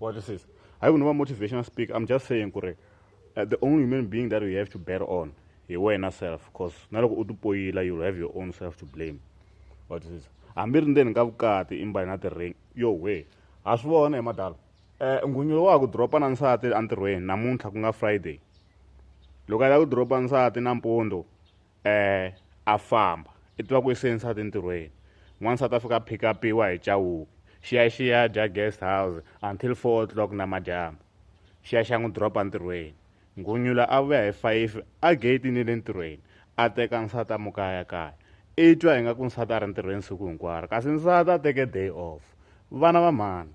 wa twisisa hayi ku ni va motivational speak i'm just saying ku ri uh, the only human being that you have to bear on hi wena self cause na loko u tipoyila you'll have your own self to blame wa twisisa hambi ri ndzeni ka vukati imbali na ti-ring yo we ha swi vona hi madala um eh, nghunyulo wa ha ku dropa na nsati entirhweni namuntlha ku nga friday loko a lava ku dropa nsati nampundzu um a famba i tiva ku i se nsati entirhweni n'wansati a fika a phikapiwa hi chawuke xiyaxiya dya guest house until four o'clock namadyambu xiya xa n'wi dropa ntirhweni nghunyula a vuya hi five a geyitini le ntirhweni a teka nsati a mukaya kaya i twa ingaku nsati a ri ntirhweni siku hinkwaro kasi nsati a teke day off vana va mhani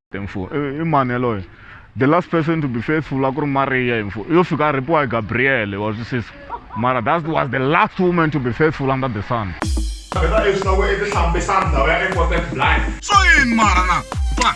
mfo i mani yaloye the last person to be faithful a ku ri mariya hi mfo yo fika a rhipiwa hi gabriyele wa swisisa mara that was the last woman to be faithful under the sun vhela leswi loko i tihlambisa ndhawu ya important blind so yini mara na ba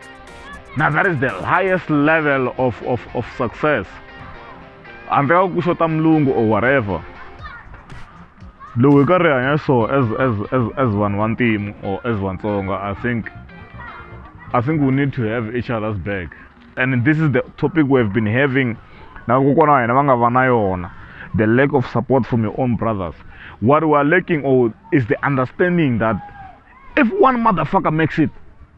Now that is the highest level of, of, of success. handle ka ku xota mulungu or whatever lowu hi karhi hi hanya so as as as as vanhu va ntimu or as vatsonga i think i think we need to have each other's back and this is the topic we have been having na kokwana wa hina va nga va na yona the lack of support from your own brothers what we are lacking or is the understanding that if one motherfucker makes it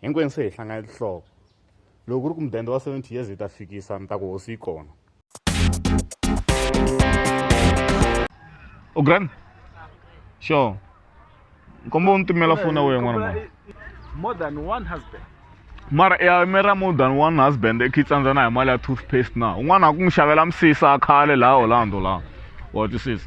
hinkwenu se hi hlangane tinhloko loko ku ri ku mudende wa 70 years hi ta fikisa ni ta ku hosi yi kona o grand sure nkombo u ni timela foni ya wena n'wana mwana more than one husband mara ya mera more than one husband i tsandzana hi mali ya toothpaste na un'wana a ku n'wi xavela misisa khale laha orlando laha wa twisisa